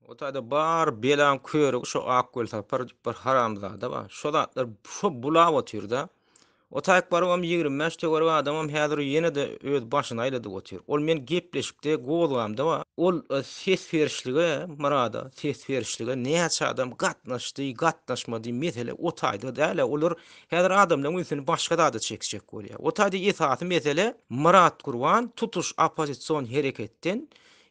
O taýda bar belaň körügi şo Akgöl Sapar diýip bir haramzada bar. Şo zatlar şo bulap otyrda. O taýakbarawam 25 töwerek adamam häzir ýene-de öz başyny aýladyp otyr. Ol men gepleşikde gozgamda bar. Ol ses berişlige, Myrada ses berişlige näçe adam gatnaşdy, gatnaşmady mesele o taýda däl-ä. Olar Häzir adamlaryň ünsüni başga zada çekjek bolýar. O taýda esasy mesele Myrat Gurban tutuş oppozision hereketden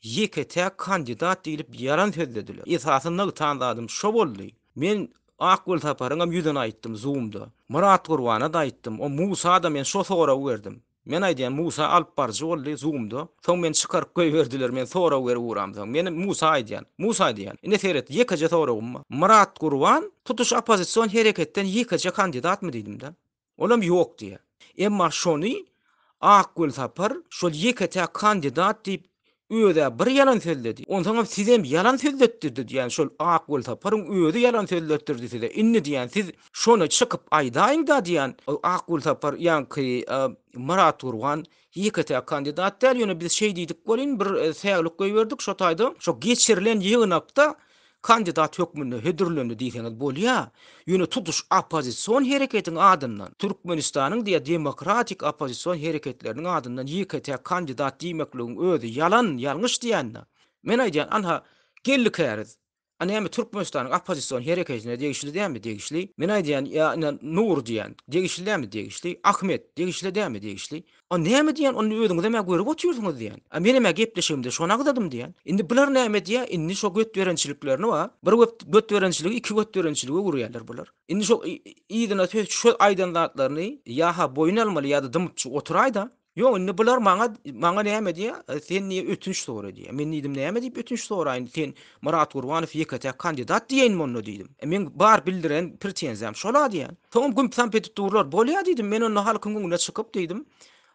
ýeke-täk kandidat diýlip ýalan sözlediler. Esasy nygtan zadym şo boldy. Men Akgül Saparyňam ýüzüne aýtdym zoomda. Myrat Gurbana-da aýtdym. O Musa-da men şo soragy berdim. Men aýdýan, Musa alyp baryjy boldy, Zoom-da. Soň meni çykaryp goýberdiler, men sorag berip uramsoň. Meni Musa aýdýan. Musa diýýän. Ine seret, ýekeje soragym bar. Myrat Gurban tutuş oppozision hereketden ýekeje kandidatmy diýdim-de. Olam ýok diýýä. Emma şony Akgül Sapar şol ýeke-täk kandidat diýip Öz-ä bir ýalan sözledi. Onsoňam sizem ýalan sözletdirdi diýýän şol Ak Welsapar-yň özi ýalan sözletdirdi size. Indi diýýän siz şony çykyp aýdaýyň-da diýýän. Ak Welsapar ýaňky Myrat Gurban ýeke-täk kandidat däl, ýöne biz şeý diýdik welin bir säwlik goýberdik şo taýda. Şo geçirilen ýygnakda kandidat hökmünde hödürlendi diýseňiz bolýa, ýöne tutuş oppozision hereketiň adyndan, Türkmenistanyň diýýä demokratik oppozision hereketleriniň adyndan ýeke-täk kandidat diýmekligiň özi ýalan, ýalňyş diýende, men aýdýan, anha, geldi käriz. A näme Türkmenistanyň oppozision hereketine degişli dämi? Degişli. Men aýdýan, ýa ine Nury diýýän, degişli dämi? Degişli. Ahmet, degişli dämi? Degişli. A näme diýýän, onda özüňizem-ä görüp otyrsyňyz diýýän. A menem-ä gepleşigimde şony agzadym diýýän. Indi bular näme diýýär, indi şo götberençiliklerini wa, bir göp götberençiligi iki götberençilige öwürýärler bular. Indi şo yzyna söz şo aýdan zatlaryny ýa-ha boýun almaly ýa-da dymypjyk oturaý-da. Ýok, indi bular maňa, maňa näme diýýär, sen diýýär ötünç sora diýýär. Men diýdim näme diýip ötünç soraýyn, sen Myrat Gurbanow ýeke-täk kandidat diýeýinmi onda diýdim. Meň bar bildiren pretenziýam şol-a diýýän. Soňam gümp-samp edip durlar. Bolýa diýdim, men onda halkyň öňüne çykyp diýdim,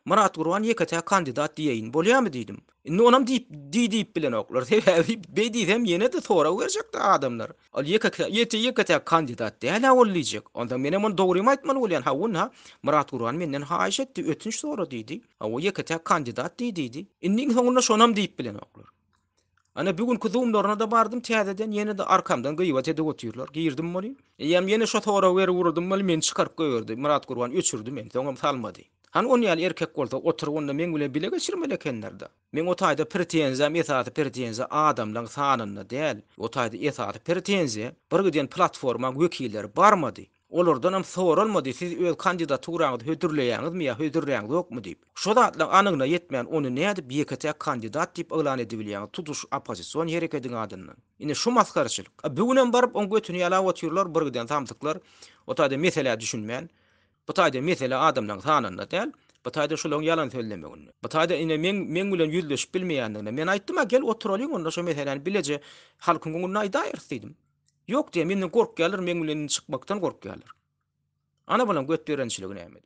Myrat Gurban ýeke-täk kandidat diýeýin. Bolýamy diýdim. Indi onam diýip, diý diýip bilenoklar. Sebäbi beý diýsem ýene-de sorag berjekdi adamlar. Ol ýeke-täk, ýeke-täk kandidat däl-ä ol diýjek. Onda menem ony dogrymy aýtmaly bolýan. Hawa-na, Myrat Gurban menden haýyş etdi, ötünç sora diýdi. Hawa, ýeke-täk kandidat diý diýdi. Indi iň soňunda şonam diýip bilenoklar. Ana bu günki zoomlaryna-da bardym täzeden, ýene-de arkamdan gyýbat edip otyrlar. Girdim welin, eýýäm ýene şo soragy berip ugradym welin, meni çykaryp goýberdi. Myratgurban öçürdi meni, soňam salmady. Hany ony ýaly erkek bolsa, oturyp onda meň bilen bile geçirmeli ekenler-de. Meň o taýda pretenziýam esasy pretenziýa adamlaryň sanynda däl. O taýda esasy pretenziýa, bir giden platformaň wekilleri barmady. Olardanam soralmady, siz öz kandidaturaňyzy hödürleýäňizmi ýa hödürläňzokmy diýip. Şo zatlaň anygyna ýetmän, ony nädip ýeke-täk kandidat diýip yglan edibilýäňiz tutuş oppozision herekediň adyndan? Ine şu masgaraçylyk. A bu günem baryp oň götüni ýalap otyrlar bir giden samsyklar. O taýda meselä düşünmän. Bu taýda mesele adamlaň sanynda däl. Bu taýda şulaň ýalan sözlemeginde. Bu taýda ine meň meň bilen ýüzleşip bilmeýändiginde. Men aýtdym-a gel oturalyň onda şo meseläni bileje halkyň öňünde aýdaýyrys diýdim. Ýok diýýär, menden gorkýarlar, meň bilen indi çykmakdan gorkýarlar. Ana-balam götberençiligi nämede?